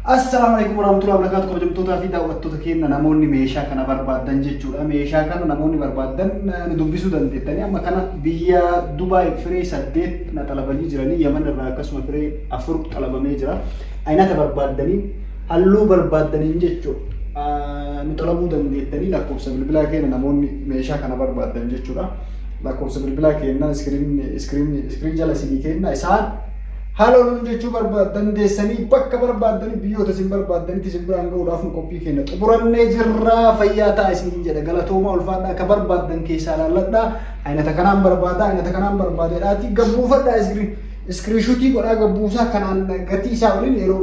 Assalaamu alaikum warahmatullahi wabarakatuh kabajamtootaa fi daawwattoota keenya namoonni meeshaa kana barbaadan jechuudha. Meeshaa kana namoonni barbaadan eh, nu dubbisuu dandeettanii amma kana biyya Dubaay firee saddeet na xalabanii jiranii Yaman irraa akkasuma firee afur xalabamee jira. Aynata barbaadaniin halluu barbaadaniin jechuudha. Ah, Nu xalabuu dandeettanii lakkoofsa bilbilaa keenya namoonni meeshaa kana barbaadan jechuudha. Lakkoofsa bilbilaa keenya iskiriin iskiriin iskiriin jala isinii keenya isaan Haaloo nuun jechuu barbaad dandeessanii bakka barbaaddani biyyoota isin barbaaddanitti isin biraan ga'uudhaaf nu qophii kenna. Xumurannee jirraa fayyaa ta'a isiniin jedha. Galatoomaa ulfaadhaa akka barbaaddan keessaa laalladhaa. Aynata kanaan barbaada, aynata kanaan barbaada jedhaatii gabbuufadhaa iskiriin. Iskiriishuutii godhaa gabbuusaa kanaan gatii isaa waliin yeroo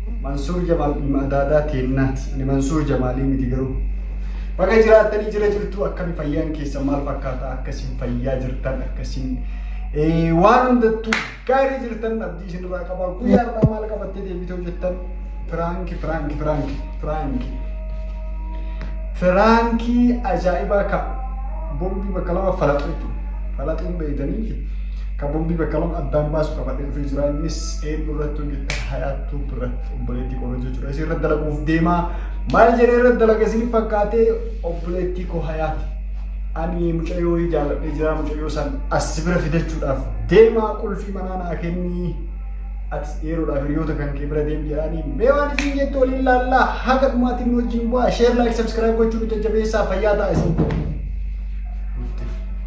Mansuur Jamaal ilma adaadaa teennaati. Ani Mansuur Jamaalii miti garuu. Baga jiraattanii jira jirtu akkami fayyaan keessan maal fakkaata akka isin fayyaa jirtan akka isin waan hundattuu gaarii jirtan abdii isinirraa qaba guyyaa irraa maal qabattee deebitee hojjettan piraanki piraanki piraanki piraanki piraankii ajaa'ibaa ka bombii bakka lama falaxuu falaxuun beeytanii Ka bombii bakka lama addaan baasu qabadhee dhufee jira. Innis eenyu irratti hojjetta hayaat tuub irratti obboleettii koo irratti jechuudha. Isin irratti dalaguuf deemaa maal jedhee irratti dalaga isin fakkaatee obboleettii koo hayaati. Ani mucayyoo jaaladhee jira mucayyoo san as bira fidachuudhaaf deemaa qulfii manaa naa kennii. Atis yeroodhaaf hiriyoota kan kee bira deem jedhaanii mee waan isin jettu waliin laallaa haga dhumaatiin nu wajjin bu'aa sheer laayik sabskiraayib gochuun nu jajjabeessaa fayyaa ta'a isin.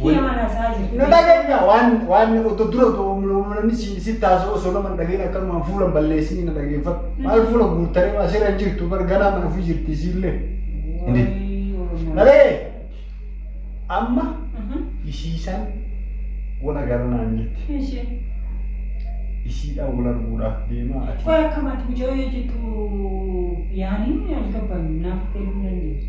Kiyya mana isaa jirti. Na dhageenyaa waan waan otoo dura otoo namni si si taasoo osoo nama hin dhageen akkanumaan fuula hin balleessinii na dhageeffadhu. Maal fuula guuttaree maa sirra hin jirtu bar ganaa mana ofii jirti isiillee. Hindi. Na dhagee amma isiisan wal agarranaan jirti. Ishee. Isiidhaan wal arguudhaaf deemaa ati. Qoy akkamaati mucayyoo jettu yaaniin algabban naaf galuu dandeessu.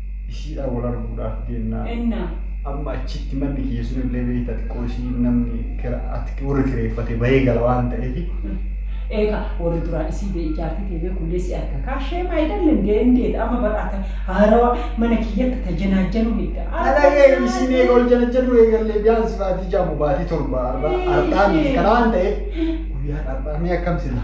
Ishiidhaan wal arguudhaaf deemna. Enna. Amma achitti manni kiyya sun illee beekta xiqqoo ishii namni kira- ati- warri kireeffate bahee gala waan ta'eef Eeka warri duraa isii bee ijaartii ta'e beeku illee si arga kaa shee maayidan lindee indee amma badhaata haarawa mana kiyyatti ta janaajjanuu hidda. Alagee isin eega ol jala jedhu eegallee biyaansi baatii jaamu baatii torba har'aa miti kana waan ta'eef guyyaa har'aa mee akkam sila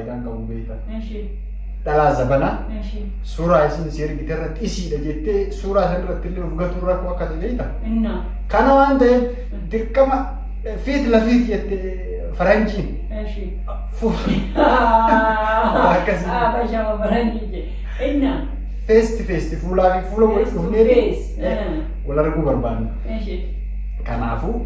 faayidaan qabu beekta. Eshi. Dhalaa zabanaa Eshi. suuraa isin si ergite irratti isiidha jettee suuraa san irratti illee of gatuun rakkoo akka ta'e beekta. Inna. Kana waan ta'eef dirqama eh, fiit lafiit jette faranjiin. Eshi. Fu- Akkasii. Ah, bashama barani je. Inna. Feesti feesti fuulaa fi fuula wal Face to dhufnee face. Eh. wal arguu barbaanna. Eshi. Kanaafuu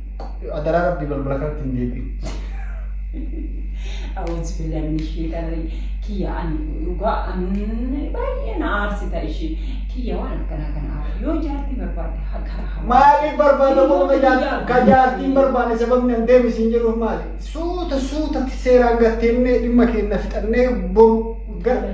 Adaraa rabbii balbala kanatti hin deebi'u. Awwaansi billaan inni ishee tarree kiyya ani dhugaa ani baay'ee na aarsita ishee kiyya waan akkanaa kana aarsa yoo jaartii barbaadde ha- karaa hamaa. Maaliif barbaada qofa ka jaar- ka jaartiin barbaade sababni an deemu isin jedhuuf maali? Suuta suuta seeraan gattee dhimma keenya fixannee boru gara